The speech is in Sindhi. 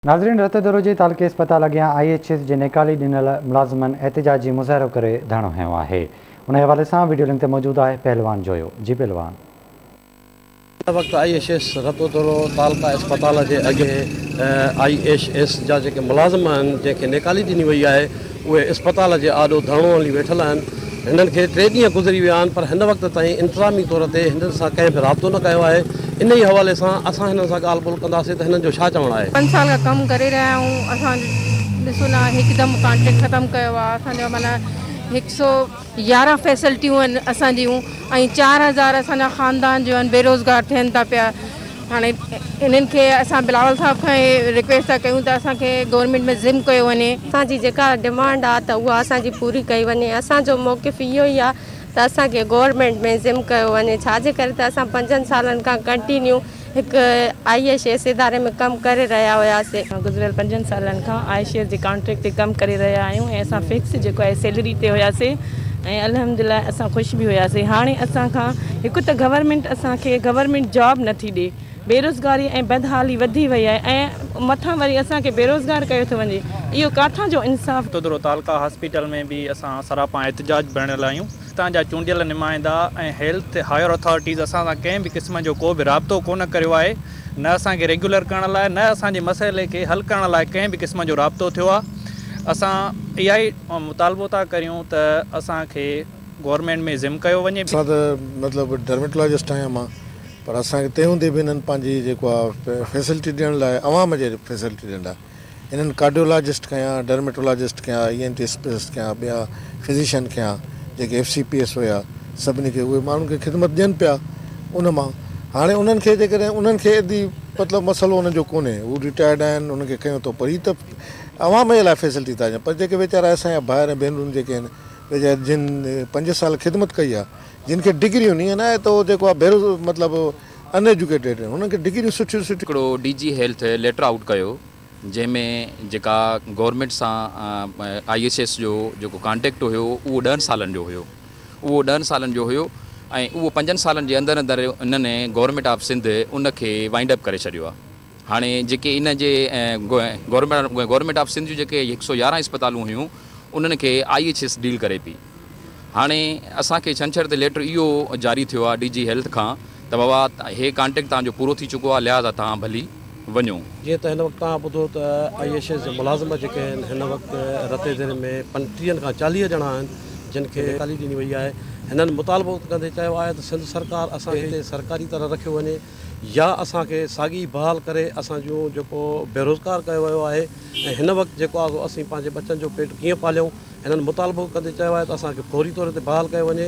ناظرين رت دروجي تعلقي اسپتال اڳيان آئي ايڇ ايس جي نيڪالي ڏنل ملازمن احتجاج جي مظاهرو ڪري ڌرڻو هنيو آهي انهي حوالي سان وڊيو لنڪ تي موجود آهي پهلوان جويو جي پهلوان. هن وقت I H S Ratodero تعلقه اسپتال جي اڳي آئي ايڇ ايس جا جيڪي ملازم آهن جنهن کي نيڪالي ڏني وئي آهي اهي اسپتال جي آڏو ڌرڻو هڻي ويٺل آهن، هنن کي ٽي ڏينهن گذري ويا آهن پر هن وقت تائين انتظامي طور تي هنن سان ڪنهن به رابطو نه ڪيو آهي، انهي حوالي سان اسان هنن سان ڳالهه ٻولهه ڪنداسين ته هنن جو ڇا چوڻ آهي. پنج سال کان ڪم ڪري رهيا آهيون اسان ڏسو نه هڪدم ڪانٽريڪٽ ختم ڪيو آهي اسان جو معنيٰ هڪ سو. يارهن فيسلٽيون آهن اسان جيون ۽ چار هزار اسان جا خاندان جو آهن بيروزگار ٿين ٿا پيا هاڻي انهن کي اسان بلاول صاحب کان هي رڪويسٽ ٿا ڪيون ته اسان کي گورنمينٽ ۾ ضم ڪيو وڃي. اسان جي جيڪا ڊمانڊ آهي ته اها اسان جي پوري ڪئي وڃي اسان جو موقف اهو ئي آهي ته اسان کي گورنمينٽ ۾ ضم ڪيو وڃي ڇا جي ڪري ته اسان پنجن سالن کان ڪنٽينيو هڪ آء ايس ايس اداري ۾ ڪم ڪري رهيا هياسين. گذريل پنجن سالن کان آء ايس ايس جي ڪانٽريڪٽ تي ڪم ڪري رهيا آهيون ۽ اسان فڪس جيڪو آهي سيلري تي هياسين ۽ الحمدلله اسان خوش به هياسين. هاڻي اسان کان هڪ ته گورنمينٽ اسان کي گورنمينٽ جاب نه ٿي ڏي، بيروزگاري ۽ بدحالي وڌي وئي آهي ۽ مٿان وري اسان کي بيروزگار ڪيو ٿو وڃي، اهو ڪاٿان جو انصاف. تودرو تعلقه هاسپيٽل ۾ به اسان سراپا احتجاج ۾ رهيل آهيون. پاڪستان جا چونڊيل نمائندا ۽ هيلٿ هائير اٿارٽيز اسان سان ڪنهن به قسم جو ڪو به رابطو ڪونه ڪريو آهي، نه اسان کي ريگيولر ڪرڻ لاء نه اسان جي مسئلي کي حل ڪرڻ لاء ڪنهن به قسم جو رابطو ٿيو آهي، اسان اها ئي مطالبو ٿا ڪريون ته اسان کي گورنمينٽ ۾ ضم ڪيو وڃي. اسان ته مطلب ڊرميٽالاجسٽ آهيون امان پر اسان کي تنهن هوندي به هنن پنهنجي جيڪو آهي فيسلٽي ڏيڻ لاء عوام جي فيسلٽي ڏيڻ لاء انهن ڪارڊيولاجسٽ کنيا، ڊرميٽولاجسٽ کنيا، اي اين ٽي اسپيشلسٽ کنيا، ٻيا فزيشن کنيا جيڪي ايف سي پي ايس هيا سڀني کي اهي ماڻهن کي خدمت ڏين پيا ان مان هاڻي انهن کي جيڪڏهن انهن کي ادي مطلب مسئلو انهن جو ڪونهي هو ريٽائرڊ آهن انهن کي کنيو اٿو پر هي ته عوام جي لاء فيسلٽي ٿا ڏين پر جيڪي ويچارا اسان جا ڀائر ۽ ڀينرون جيڪي آهن ويچارا جن پنج سال خدمت ڪئي آهي جن کي ڊگريون نيئن آهي ته هو جيڪو آهي بيروز مطلب ان ايجوڪيٽيڊ آهن انهن کي ڊگريون سٺيون سٺيون. هڪڙو D G health letter out ڪيو جنهن ۾ جيڪا گورنمينٽ سان آئي ايس ايس جو جيڪو ڪانٽيڪٽ هيو اهو ڏهن سالن جو هيو اهو ڏهن سالن جو هيو ۽ اهو پنجن سالن جي اندر اندر انهن گورنمينٽ آف سنڌ ان کي وائنڊ اپ ڪري ڇڏيو آهي هاڻي جيڪي ان جي گورنمينٽ آف سنڌ جون جيڪي هڪ سو يارهن اسپتالون هيون انهن کي آئي ايس ايس ڊيل ڪري پئي. هاڻي اسان کي ڇنڇر تي ليٽر اهو جاري ٿيو آهي ڊي جي هيلٿ کان ته بابا هي ڪانٽيڪٽ توهان جو پورو ٿي چڪو آهي لهٰذا توهان ڀلي وڃو. جيئن ته هن وقت توهان ٻڌو ته آء ايس ايس جا ملازم جيڪي آهن هن وقت رت اديري ۾ پنجٽيهن کان چاليهه ڄڻا آهن جن کي نيڪالي ڏني وئي آهي هنن مطالبو ڪندي چيو آهي ته سنڌ سرڪار اسان کي هتي سرڪاري طرح رکيو وڃي. يا اسان کي ساڳي بحال ڪري اسان جون جيڪو بيروزگار ڪيو ويو آهي ۽ هن وقت جيڪو آهي سو اسين پنهنجي ٻچن جو پيٽ ڪيئن پاليون هنن مطالبو ڪندي چيو آهي ته اسان کي فوري طور تي بحال ڪيو وڃي.